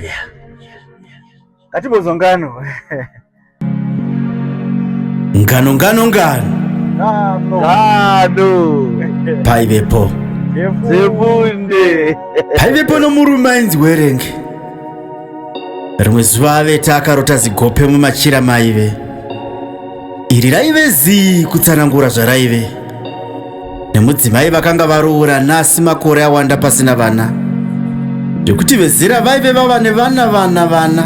Yeah. Katibozo ngano. Ngano ngano ngano. Ngano. Ngano. Paivepo. Zebunde. Paivepo nomurume ainzi Werenge. Rimwe zuva avete akarota zigope mumachira maive. Iri raive zii kutsanangura zvaraive. nemudzimai vakanga varoora nhasi makore awanda pasina vana zvekuti vezera vaive vava nevana vana vana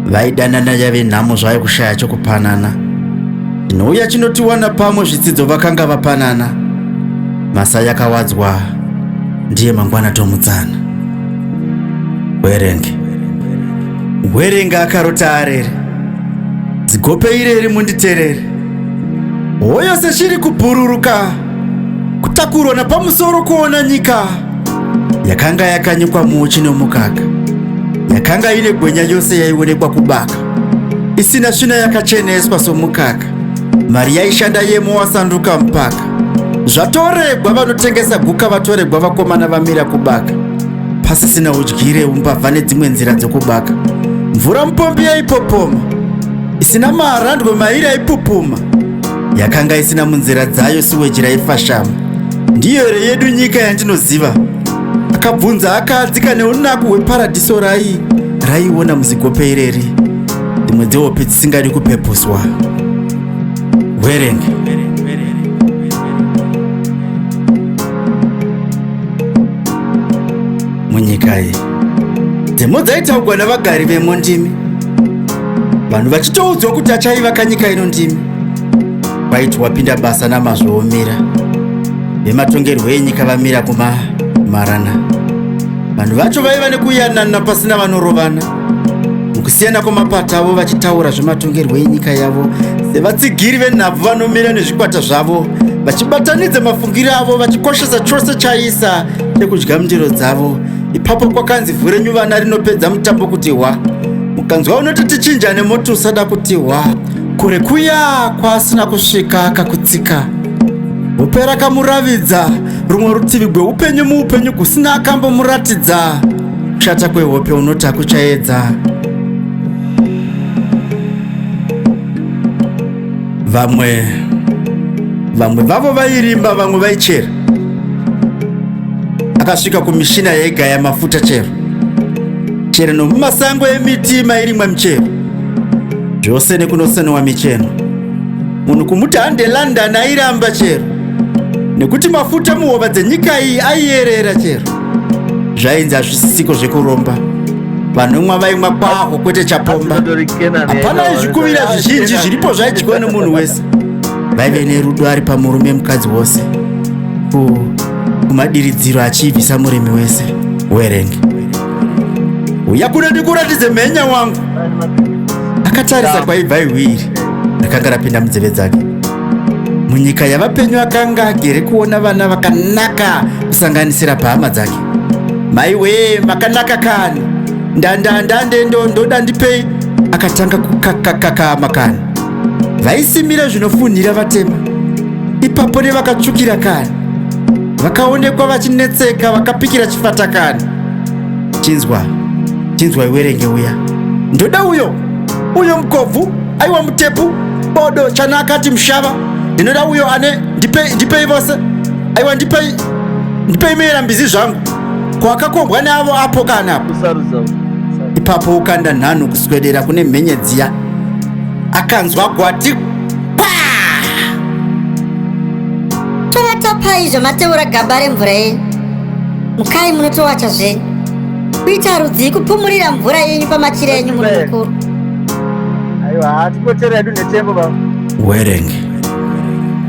vaidanana yave nhamo zvayo kushaya chokupanana chinouya chinotiwana pamwe zvitsidzo vakanga vapanana masa yakawadzwa ndiye mangwana tomutsana werenge werenge akarota arere dzigope ireri munditerere Hoyo seshiri kubhururuka, kutakurwa napamusoro kuona nyika yakanga yakanyikwa muuchi nomukaka, yakanga ine gwenya yose yaionekwa kubaka, isina svina yakacheneswa somukaka, mari yaishanda yemo wasanduka mpaka. Zvatoregwa vanotengesa guka vatoregwa vakomana vamira kubaka, pasisina udyire umbavha nedzimwe nzira dzokubaka. Mvura mupombi yaipopoma isina maarandwe mairi aipupuma yakanga isina munzira dzayo siweji raifashama ndiyo here yedu nyika yandinoziva akabvunza akaadzika neunaku hweparadhiso rai raiona muzigope ireri dzimwe dzehope dzisingadi kupepuswa werenge munyika iyi dzemo dzaitaugwa navagari vemo ndimi vanhu vachitoudzwa kuti achaiva kanyika ino ndimi waiti wapinda basa namazvo womira vematongerwo enyika vamira kumamarana vanhu vacho vaiva nekuyanana pasina vanorovana mukusiyana kwamapata avo vachitaura zvematongerwo enyika yavo sevatsigiri venhabvu vanomira nezvikwata zvavo vachibatanidza mafungiro avo vachikoshesa chose chaisa chekudya mundiro dzavo ipapo kwakanzi vhu renyu vana rinopedza mutambo kuti hwa mukanzwa unoti tichinjane moti usada kuti hwa kure kuya kwaasina kusvika kakutsika hope rakamuravidza rumwe rutivi gweupenyu muupenyu kusina akambomuratidza kushata kwehope unoti hakuchaedza vamwe vamwe vavo vairimba vamwe vaichera akasvika kumishina yaigaya mafuta chero chero nomumasango emiti mairimwa michero zvose nekunosenowa micheno munhu kumuti hande london airamba chero nekuti mafuta muhova dzenyika iyi aiyerera chero zvainzi hazvisisiko zvekuromba vanomwa vaimwa kwaho kwete chapomba hapana izvikuvira zvizhinji zviripo zvaidyiwa nemunhu wese vaive nerudo ari pamurume mukadzi wose kumadiridziro achiibvisa murimi wese werenge uya kuno ndikuratidze mhenya wangu akatarisa kwaibva iwiri rakanga rapinda munzeve dzake munyika yavapenyu akanga agere kuona vana vakanaka kusanganisira pahama dzake maiwee makanaka kani ndandandandendo ndoda ndipei akatanga kukakakakama kani vaisimira zvinofunhira vatema ipapo nevakatsvukira kani vakaonekwa vachinetseka vakapikira chifatakani chinzwa chinzwa iwerenge uya ndoda uyo uyo mukobvu aiwa mutepu bodo chana akati mushava ndinoda uyo ane ndipei ndipei vose aiwa ndipei ndipei meera mbizi zvangu kwakakombwa neavo apo kana apo ipapo ukanda nhanho kuswedera kune mhenye dziya akanzwa gwati tovatapai zvamateura gaba remvura yenyu mukai munotowacha zvenyu kuita rudzii kupumurira mvura yenyu pamachira enyu muri mukuru aiwa hatikotera edu netembo baba werenge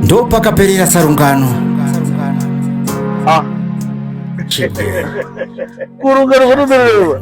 ndo pakaperera sarungano ah. kurungano kunomererwa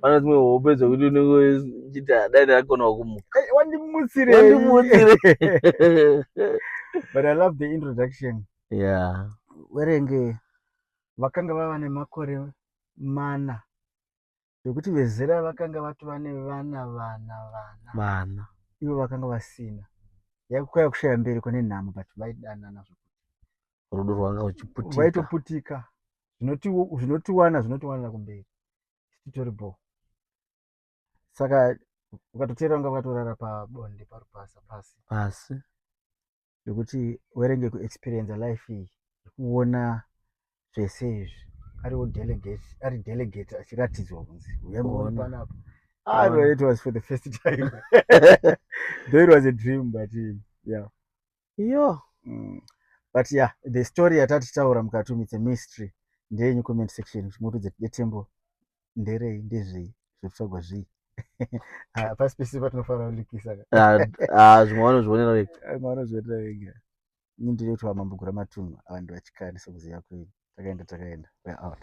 pane dzimwe hope dzokuti unenge uchiti dai ndakakonawo kumuka wandimutsirewandimutsire but i love the introduction yeah werenge vakanga vava nemakore mana zvekuti vezera vakanga vatova nevana vana vana vana ivo vakanga vasina yakukwaya kushaya mberi kune nhamo but vaidanana zvekuti rudo rwanga uchiputika vaitoputika zvinotiwana zvinotiwanira kumberi isu titori bho saka ukatoteera unga vakatorara pabonde parupasa pasi pasi zvekuti werenge kuexperienza life iyi yekuona zvese izvi ariwo delegate ari delegate achiratidzwa kunzi uyamboonpanapa ah, it was for the first time though it was a dream but yeah Yo. Mm. But yeah, the story yatati taura mukati umu it's a mystery. Ndeyenyu comment section moto dzetembo nderei ndezvei zvekutsvagwa zvii ah, pasi pese patinofanira kulikisa ah, ah, zvimwe vanozvionera vega vimwe vanozvionera vega ini ndiri kuti vamambogura matunhu avanhu vachikani sekuziva kwenyu takaenda takaenda weare out